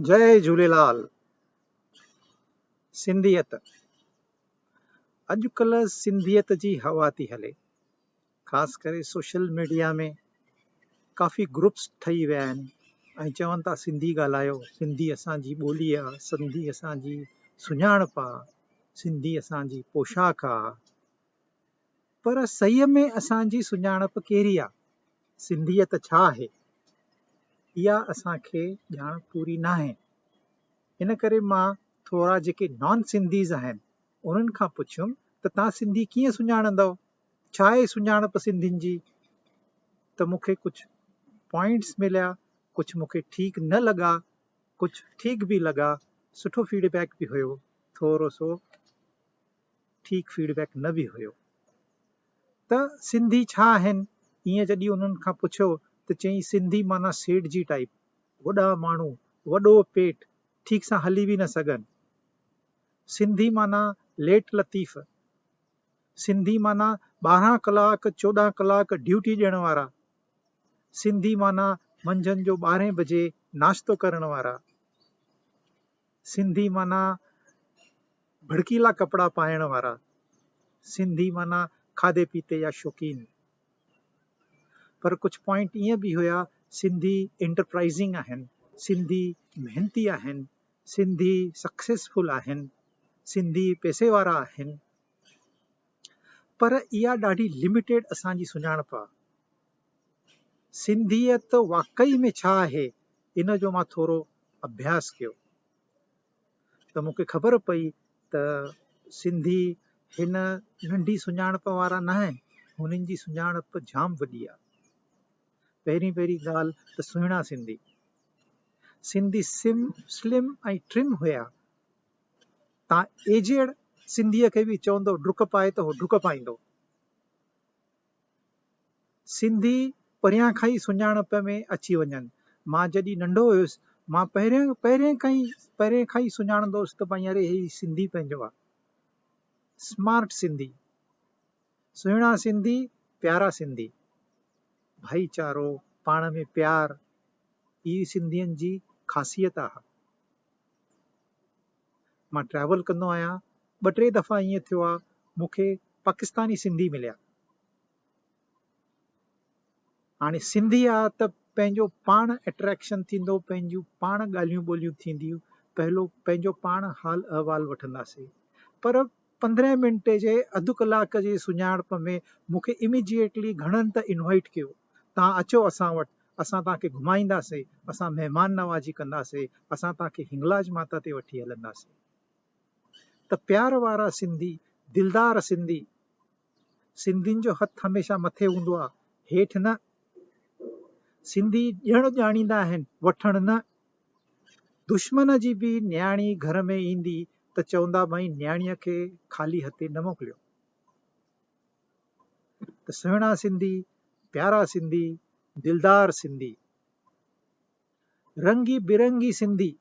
جئي جھوليلال سنڌيت اڄڪلھ سنڌيت جي ھوا ٿي ھلي خاص ڪري سوشل ميڊيا ۾ ڪافي گروپس ٺھي ويا آھن ۽ چون ٿا سنڌي ڳالھايو سنڌي اسانجي ٻولي آ سنڌي اسانجي سڃاڻپ آ سنڌي اسانجي پوشاڪ آ پر سئي ۾ اسان جي سڃاڻپ ڪهڙي آ؟ سنڌيت ڇا آهي؟ اها اسان کي ڄاڻ پوري ناهي. ان ڪري مان ٿورا جيڪي نان سنڌيز آهن انهن کان پڇيم ته توهان سنڌي ڪيئن سڃاڻندؤ؟ ڇا آهي سڃاڻپ سنڌين جي؟ ته مون کي ڪجهه پوائنٽس مليا ڪجهه مون کي ٺيڪ نه لڳا ڪجهه ٺيڪ به لڳا سٺو فيڊبيڪ به هيو ٿورو سو ٺيڪ فيڊ بيڪ نه به هيو ته سنڌي ڇا آهن ايئن جڏهن انهن کان پڇيو ته چيائين سنڌي معنيٰ سيٺ جي ٽائيپ وڏا ماڻهو وڏو پيٽ ٺيڪ سان هلي به نه سگهن سنڌي معنيٰ ليٽ لطيف سنڌي معنيٰ ٻارهن ڪلاڪ چوڏهن ڪلاڪ ڊيوٽي ڏيڻ وارا سنڌي معنيٰ منجهند جو ٻارهين بجي ناشتو ڪرڻ وارا سنڌي معنيٰ ڀڙڪيلا ڪپڙا پائڻ وارا. سنڌي معنيٰ کاڌي پيتي جا شوقين. پر ڪجهه پوائنٽ ائين به هيا، سنڌي انٽرپرائزنگ آهن، سنڌي محنتي آهن، سنڌي سڪسيسفل آهن، سنڌي پئسي وارا آهن. پر اها ڏاڍي لمٽيڊ اسان جي سڃاڻپ آهي. سنڌيت واقعي ۾ ڇا آهي ان جو مان ٿورو اڀياس ڪيو ته مون کي خبر پئي ته سنڌي هن ننڍي سڃاڻپ وارا نه آهن هنن جي سڃاڻپ جام وڏي آهي پهرين پهرين ڳالهه ته سهڻا سنڌي سنڌي سم سلم ۽ ٽرم هيا تان ايجيڙ سنڌيء کي به چوندو ڊڪ پائي ته هو ڊڪ پائيندو سنڌي پريان کان ئي سڃاڻپ ۾ اچي وڃن. مان جڏهن ننڍو هيس، مان پهرين پهرين کان ئي پهرين کان ئي سڃاڻندو هوس ته ڀائين اري هي سنڌي پنهنجو آ. سمارٽ سنڌي، سهڻا سنڌي، پيارا سنڌي، ڀائيچارو، پاڻ ۾ پيار، هي سنڌين جي خاصيت آ. مان ٽريول ڪندو آهيان ٻه ٽي دفعا ائين ٿيو آهي مون کي پاڪستاني سنڌي مليا هاڻي سنڌي آ ته پنهنجو پاڻ اٽريڪشن ٿيندو پنهنجون پاڻ ڳالهيون ٻولهيون ٿينديون پهلو پنهنجو پاڻ حال احوال وٺنداسي پر پندرهن منٽ جي اڌ ڪلاڪ جي سڃاڻپ ۾ مون کي اميڊيٽلي گهڻن ته انوائيٽ ڪيو، توهان اچو اسان وٽ، اسان توهان کي گهمائينداسي، اسان مهمان نوازي ڪنداسي، اسان توهان کي هنگلاج ماتا تي وٺي هلنداسي. ته پيار وارا سنڌي، دلدار سنڌي! سنڌين جو هٿ هميشه مٿي هوندو آ هيٺ نه. سنڌي ڏيڻ ڄاڻيندا آهن وٺڻ نه. دشمن جي به نياڻي گهر ۾ ايندي ته چوندا ڀائي نياڻيء کي خالي هٿين نه موڪليو. ته سهڻا سنڌي، پيارا سنڌي، دلدار سنڌي. رنگي برنگي سنڌي،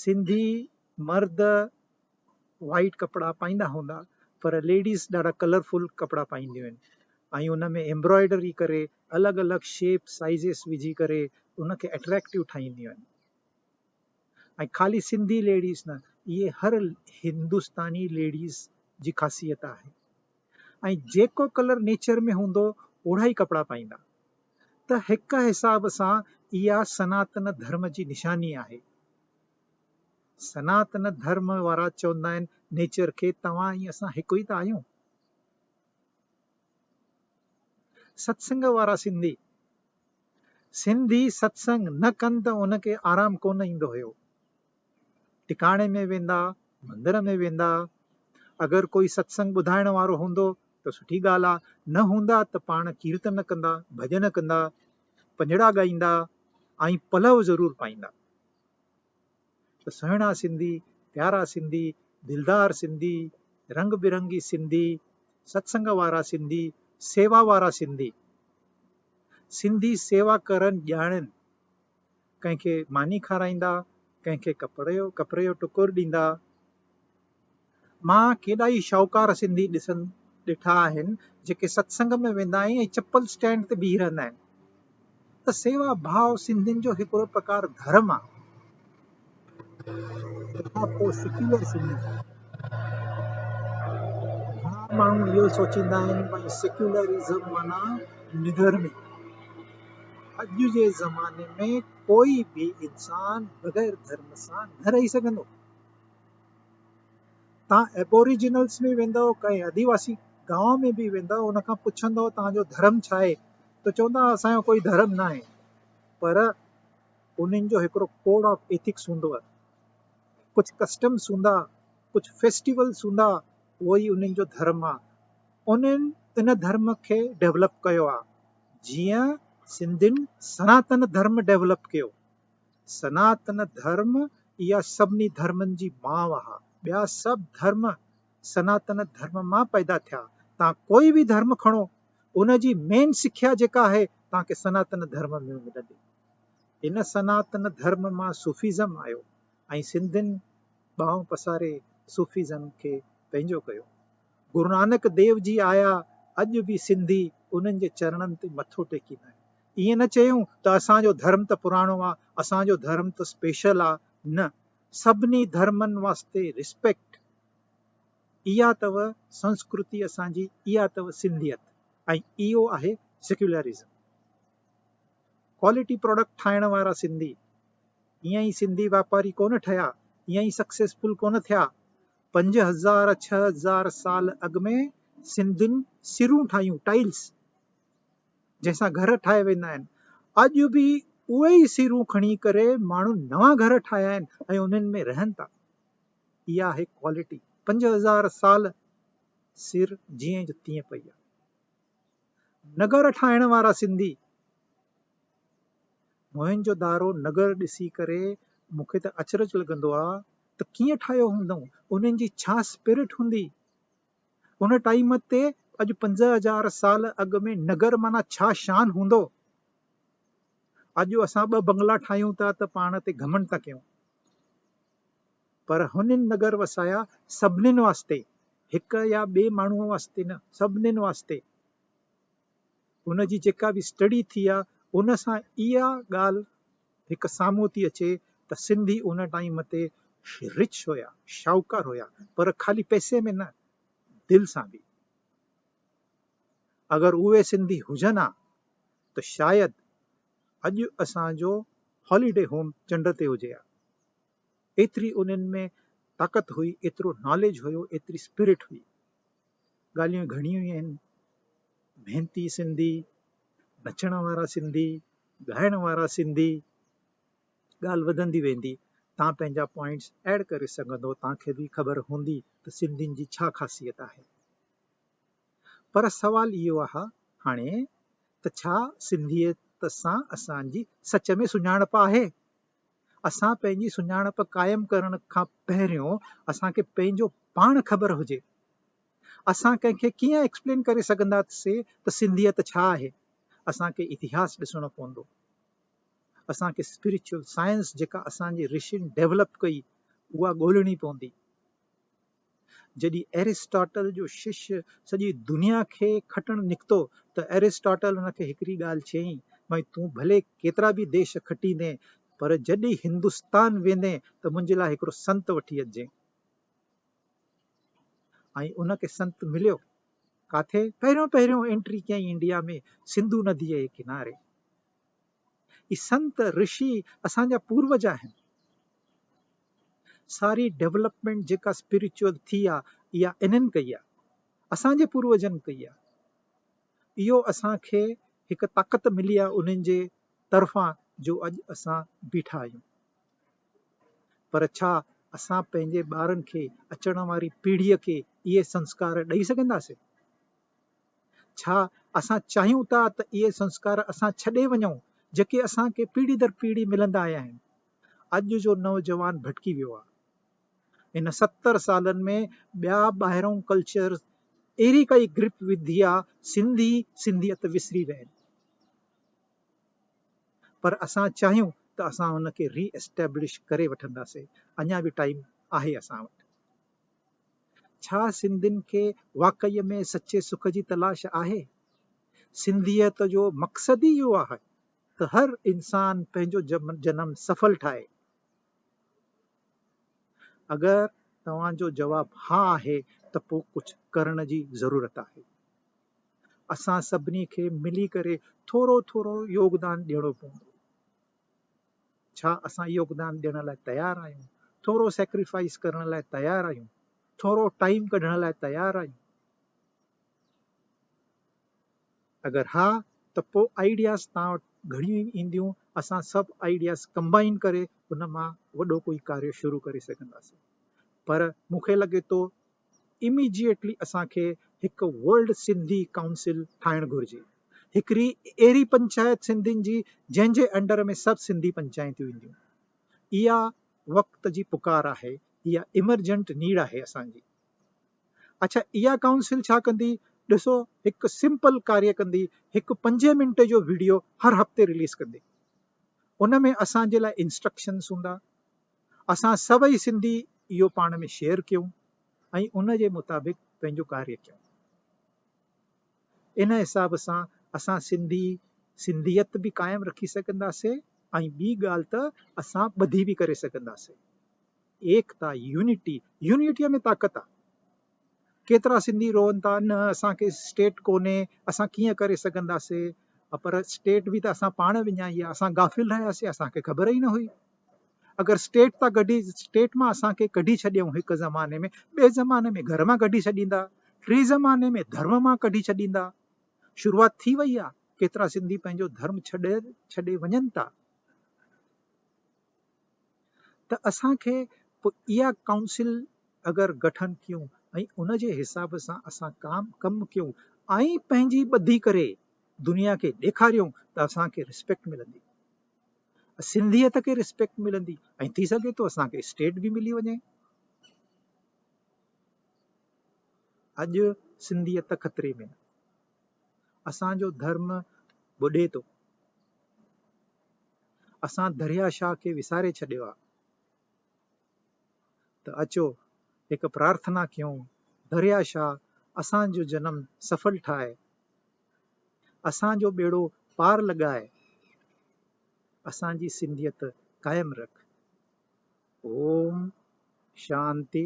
سنڌي مرد وائيٽ ڪپڙا پائيندا هوندا پر ليڊيز ڏاڍا ڪلرفل ڪپڙا پائينديون آهن ۽ ان ۾ ايمبرائيڊري ڪري الڳ الڳ شيپ سائيزز وجهي ڪري ان کي اٽريڪٽو ٺاهينديون آهن ۽ خالي سنڌي ليڊيز نه اهي هر هندستاني ليڊيز جي خاصيت آهي ۽ جيڪو ڪلر نيچر ۾ هوندو اوڙا ئي ڪپڙا پائيندا ته هڪ حساب سان اها سناتن ڌرم جي نشاني آهي سناتن ڌرم وارا چوندا آهن نيچر کي توهان ۽ اسان هڪ ئي ته آهيون ستسنگ وارا سنڌي سنڌي ستسنگ نه ڪن ته ان کي آرام ڪونه ايندو هيو. ٽڪاڻي ۾ ويندا، مندر ۾ ويندا، اگر ڪوئي ستسنگ ٻڌائڻ وارو هوندو ته سٺي ڳالهه آ، نه هوندا ته پاڻ ڪيرتن ڪندا، ڀڄن ڪندا، پڃڙا ڳائيندا ۽ پلو ضرور پائيندا. ته سهڻا سنڌي، پيارا سنڌي، دلدار سنڌي، رنگ برنگي سنڌي، ستسنگ وارا سنڌي، سيوا وارا سنڌي. سنڌي سيوا ڪرن ڄاڻين. ڪنهن کي ماني کارائيندا، ڪنهن کي ڪپڙي جو ٽڪر ڏيندا. مان ڪيڏا ئي شاهوڪار سنڌي ڏسن ڏٺا آهن جيڪي ستسنگ ۾ ويندا آهن ۽ چپل اسٽينڊ تي بيهي رهندا آهن ته سيوا ڀاء سنڌين جو هڪڙو پرڪار ڌرم آهي تنهن کان پوء سيڪيولر سنڌي گهڻا ماڻهو اهو سوچيندا آهن ڀاء سيڪيولرزم معنيٰ نڌرمي اڄ جي زماني ۾ ڪوئي به انسان بغير ڌرم سان نه رهي سگهندو تان ابوريجنلس ۾ ويندؤ ڪنهن آديواسي گاون ۾ به ويندؤ ان کان پڇندؤ تان جو ڌرم ڇا آهي ته چوندا اسان جو ڪوئي ڌرم نه آهي پر انهن جو هڪڙو ڪوڊ آف ايٿڪس هوندو آهي ڪجهه ڪسٽمس هوندا ڪجهه فيسٽيولس هوندا اهو ئي انهن جو ڌرم آهي انهن ان ڌرم کي ڊيولپ ڪيو آهي جيئن سنڌين سناتن ڌرم ڊيولپ ڪيو سناتن ڌرم اها سڀني ڌرمن جي ماء آهي، ٻيا سڀ ڌرم سناتن ڌرم مان پيدا ٿيا، توهان ڪوئي به ڌرم کڻو ان جي مين سکيا جيڪا آهي توهان کي سناتن ڌرم ۾ ملندي، ان سناتن ڌرم مان صوفيزم آيو ۽ سنڌين ٻانهون پساري صوفيزم کي پنهنجو ڪيو، گرونانڪ ديو جي آيا اڄ به سنڌي انهن جي چرڻن تي مٿو ٽيڪيندا آهن. ائين نه چيون ته اسان جو ڌرم ته پراڻو آ، اسان جو ڌرم ته اسپيشل آ، نه سڀني ڌرمن واسطي رسپيڪٽ اها اٿو سنسڪرتي اسان جي اها اٿو سنڌيت ۽ اهو آهي سيڪيولرزم ڪوالٽي پروڊڪٽ ٺاهڻ وارا سنڌي ائين ئي سنڌي واپاري ڪونه ٺهيا ائين ئي سڪسيسفل ڪونه ٿيا پنج هزار ڇهه هزار سال اڳ ۾ سنڌين سرون ٺاهيون ٽائلس جنهن سان گهر ٺاهيا ويندا آهن اڄ به اهي ئي سيرون کڻي ڪري ماڻهن نوان گهر ٺاهيا آهن ۽ انهن ۾ رهن ٿا اها آهي ڪوالٽي پنج هزار سال سر جيئن جو تيئن پئي آهي نگر ٺاهڻ وارا سنڌي موهن جو دارو نگر ڏسي ڪري مون کي ته اچرج لڳندو آهي ته ڪيئن ٺاهيو هوندائون انهن جي ڇا اسپرٽ هوندي ان ٽائيم تي اڄ پنجاهه هزار سال اڳ ۾ نگر معنيٰ ڇا شان هوندو؟ اڄ اسان ٻه بنگلا ٺاهيون ٿا ته پاڻ تي گهمنڊ ٿا ڪيون پر هنن نگر وسايا سڀنين واسطي هڪ يا ٻئي ماڻهوء واسطي نه سڀنين واسطي. هن جي جيڪا به اسٽڊي ٿي آ ان سان اها ڳالهه هڪ سامهون ٿي اچي ته سنڌي ان ٽائيم تي رچ هيا شاهوڪار هيا پر خالي پئسي ۾ نه دل سان به اگر اهي سنڌي هجن ها ته شايد اڄ اسان جو هاليڊي هوم چنڊ تي هجي ها. ايتري انهن ۾ طاقت هئي، ايترو ناليج هيو، ايتري اسپرٽ هئي. ڳالهيون گهڻيون ئي آهن. محنتي سنڌي، نچڻ وارا سنڌي، ڳائڻ وارا سنڌي، ڳالهه وڌندي ويندي. تان پنهنجا پوائنٽس ايڊ ڪري سگهندو، تان کي به خبر هوندي ته سنڌين جي ڇا خاصيت آهي. پر سوال اهو آهي هاڻي ته ڇا سنڌيت سان اسان جي سچ ۾ سڃاڻپ آهي؟ اسان پنهنجي سڃاڻپ قائم ڪرڻ کان پهريون اسان کي پنهنجو پاڻ خبر هجي. اسان ڪنهن کي ڪيئن ايڪسپلين ڪري سگهنداسين ته سنڌيت ڇا آهي؟ اسان کي اتهاس ڏسڻو پوندو. اسان کي اسپريچوئل سائنس جيڪا اسان جي رشين ڊيولپ ڪئي اها ڳولڻي پوندي. جڏهن ارسٽاٽل جو شش سڄي دنيا کي کٽڻ نڪتو ته ارسٽاٽل ان کي هڪڙي ڳالهه چيائين، ڀاء تون ڀلي ڪيترا به ديش کٽيندين پر جڏهن هندستان ويندين ته منهنجي لاء هڪڙو سنت وٺي اچجين. ۽ ان کي سنت مليو. ڪاٿي؟ پهريون پهريون انٽري ڪيائين انڊيا ۾ سنڌو نديء جي ڪناري. هي سنت رشي اسان جا پوروج آهن. ساري ڊيولپمينٽ جيڪا اسپريچوئل ٿي آ اها انهن ڪئي آ. اسان جي پوروجن ڪئي آ. اهو اسان کي هڪ طاقت ملي آ انهن جي طرفان جو اڄ اسان بيٺا آهيون. پر ڇا اسان پنهنجي ٻارن کي اچڻ واري پيڙهي کي اهي سنسڪار ڏئي سگهنداسين؟ ڇا اسان چاهيون ٿا ته اهي سنسڪار اسان ڇڏي وڃون جيڪي اسان کي پيڙهي در پيڙهي ملندا آيا آهن. اڄ جو نوجوان ڀٽڪي ويو آهي. هن ستر سالن ۾ ٻيا ٻاهرئون ڪلچر اهڙي ڪائي گرپ وڌي آ سنڌي سنڌيت وسري ويا آهن. پر اسان چاهيون ته اسان ان کي ري اسٽيبلش ڪري وٺنداسين اڃا به ٽائيم آهي اسان وٽ. ڇا سنڌين کي واقعي ۾ سچي سک جي تلاش آهي؟ سنڌيت جو مقصد ئي اهو آهي ته هر انسان پنهنجو جنم سڦل ٺاهي. اگر توهان جو جواب ها آهي ته پوء ڪجهه ڪرڻ جي ضرورت آهي. اسان سڀني کي ملي ڪري ٿورو ٿورو يوگدان ڏيڻو پوندو. ڇا اسان يوگدان ڏيڻ لاء تيار آهيون؟ ٿورو سيڪريفائيس ڪرڻ لاء تيار آهيون؟ ٿورو ٽائيم ڪڍڻ لاء تيار آهيون؟ اگر ها ته پوء آئيڊياز توهان وٽ گهڻيون ئي اينديون، اسان سڀ آئيڊياز ڪمبائن ڪري ان مان وڏو ڪوئي ڪاريو شروع ڪري سگهنداسين. پر مون کي لڳي ٿو اميڊيٽلي اسان کي هڪ ورلڊ سنڌي ڪائونسل ٺاهڻ گهرجي هڪڙي اهڙي پنچائت سنڌين جي جنهن جي انڊر ۾ سڀ سنڌي پنچائتون اينديون اها وقت جي پڪار آهي اها ايمرجنٽ نيڊ آهي اسان جي اڇا اها ڪائونسل ڇا ڪندي ڏسو هڪ سمپل ڪاري ڪندي هڪ پنجين منٽ جو ويڊيو هر هفتي رليز ڪندي ان ۾ اسان جي لاء انسٽرڪشنس هوندا اسان سڀئي سنڌي اهو پاڻ ۾ شيئر ڪيون ۽ ان جي مطابق پنهنجو ڪاريه ڪيون. ان حساب سان اسان سنڌي سنڌيت به قائم رکي سگهنداسين ۽ ٻي ڳالهه ته اسان ٻڌي به ڪري سگهنداسين. ايڪتا، يونٽي، يونٽيء ۾ طاقت آ. ڪيترا سنڌي روئن ٿا نه اسان کي اسٽيٽ ڪونهي اسان ڪيئن ڪري سگهنداسي پر اسٽيٽ به ته اسان پاڻ وڃائي آ اسان غافل رهياسي اسان کي خبر ئي نه هئي اگر اسٽيٽ تا گڏي اسٽيٽ مان اسان کي ڪڍي ڇڏيون هڪ زماني ۾ ٻي زماني ۾ گهر مان ڪڍي ڇڏيندا ٽي زماني ۾ ڌرم مان ڪڍي ڇڏيندا شروعات ٿي وئي آ ڪيترا سنڌي پنهنجو ڌرم ڇڏي ڇڏي وڃن ٿا ته اسان کي پوء اها ڪائونسل اگر گٺن ڪيون ۽ ان جي حساب سان اسان ڪام ڪم ڪيون ۽ پنهنجي ٻڌي ڪري دنيا کي ڏيکاريون ته اسان کي رسپيڪٽ ملندي سنڌيت کي رسپيڪٽ ملندي ۽ ٿي سگهي ٿو اسان کي اسٽيٽ به ملي وڃي اڄ سنڌيت خطري ۾ اسان جو ڌرم ٻڏي ٿو. اسان دريا شاهه کي وساري ڇڏيو آهي. ته اچو هڪ پرارٿنا ڪيون دريا شاهه اسان جو جنم سفل ٺاهه، اسان جو ٻيڙو پار لڳائي، اسان جي سنڌيت قائم رک. اوم شانتي